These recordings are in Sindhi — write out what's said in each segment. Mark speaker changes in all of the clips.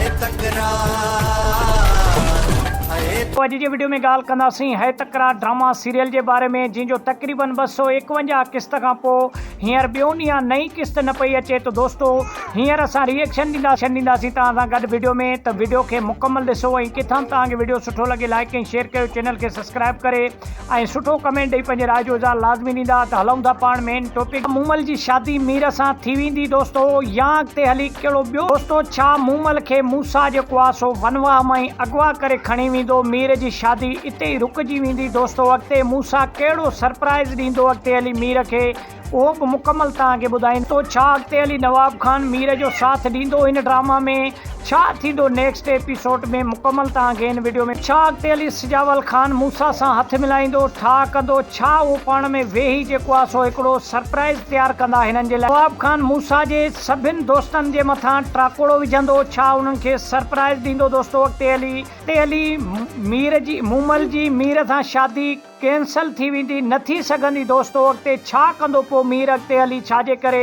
Speaker 1: هيء تڪرار. پوء اڄ جي وڊيو ۾ ڳالهه ڪنداسين هيء تڪرار ڊراما سيريل جي باري ۾ جنهن جو تقريبن ٻه سؤ ايڪونجاهه قسط کان پوء هينئر ٻيو ڏينهن نئين قسط نه پئي اچي ته دوستو هينئر اسان ري ايڪشن ڏينداسين توهان سان گڏ وڊيو ۾ ته وڊيو کي مڪمل ڏسو ۽ ڪٿان به توهان کي وڊيو سٺو لڳي لائيڪ ۽ شيئر ڪيو چينل کي سبسڪرائيب ڪري ۽ سٺو ڪمينٽ ڏئي پنهنجي راء جو اظهار لازمي ڏيندا ته هلئون ٿا پاڻ مين ٽوپڪ مومل جي شادي مير سان ٿي ويندي دوستو يا اڳتي هلي ڪهڙو ٻيو دوستو ڇا مومل کي موسيٰ جيڪو آ سو ونواهه مان ئي اغوا ڪري کڻي ويندو مير جي شادي اتي ئي رڪجي ويندي دوستو اڳتي موسيٰ ڪهڙو سرپرائز ڏيندو اڳتي هلي مير کي اهو به مڪمل توهان کي ٻڌائين ٿو ڇا اڳتي هلي نواب خان مير جو ساٿ ڏيندو هن ڊراما ۾ ڇا ٿيندو نيڪسٽ ايپيسوڊ ۾ مڪمل توهان کي هن وڊيو ۾ ڇا اڳتي هلي سجاول خان موسيٰ سان هٿ ملائيندو ٺاء ڪندو ڇا اهو پاڻ ۾ ويهي جيڪو آ سو هڪڙو سرپرائز تيار ڪندا هنن جي لاء نواب خان موسيٰ جي سڀن دوستن جي مٿان ٽراڪوڙو وجهندو ڇا انهن کي سرپرائز ڏيندو دوستو اڳتي هلي اڳتي هلي مير جي مومل جي مير سان شادي ڪينسل ٿي ويندي. نه ٿي سگهندي دوستو اڳتي ڇا ڪندو پو مير اڳتي هلي ڇاجي ڪري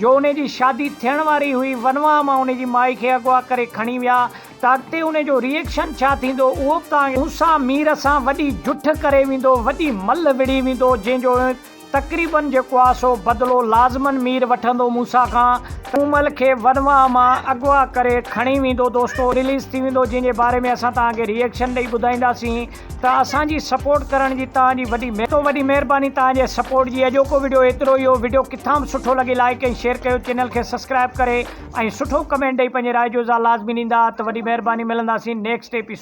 Speaker 1: جو انهي جي شادي ٿيڻ واري هئي ونواهه مان انهي جي مائي کي اغوا ڪري کڻي ويا ته اڳتي انهي جو ريئڪشن ڇا ٿيندو اهو به توهان کي پو سان مير سان وڏي جٺ ڪري ويندو وڏي ملهه وڙهي ويندو جنهن جو تقريبن جيڪو آ سو بدلو لازمن مير وٺندو موسيٰ کان ته ڪومل کي ورنواهه مان اغوا ڪري کڻي ويندو دوستو رليز ٿي ويندو جنهن جي باري ۾ اسان توهان کي ري ايڪشن ڏئي ٻڌائينداسين ته اسان جي سپورٽ ڪرڻ جي توهان جي وڏي تو وڏي مهرباني توهان جي سپورٽ جي اڄوڪو وڊيو ايترو ئي هو وڊيو ڪٿان به سٺو لڳي لائيڪ ۽ شيئر ڪيو چينل کي سسڪرائب ڪري ۽ سٺو ڪمينٽ ڏئي پنهنجي راء جو اظهار لازمي ڏيندا ته وڏي مهرباني ملنداسين نيڪسٽ ايپيسوڊ.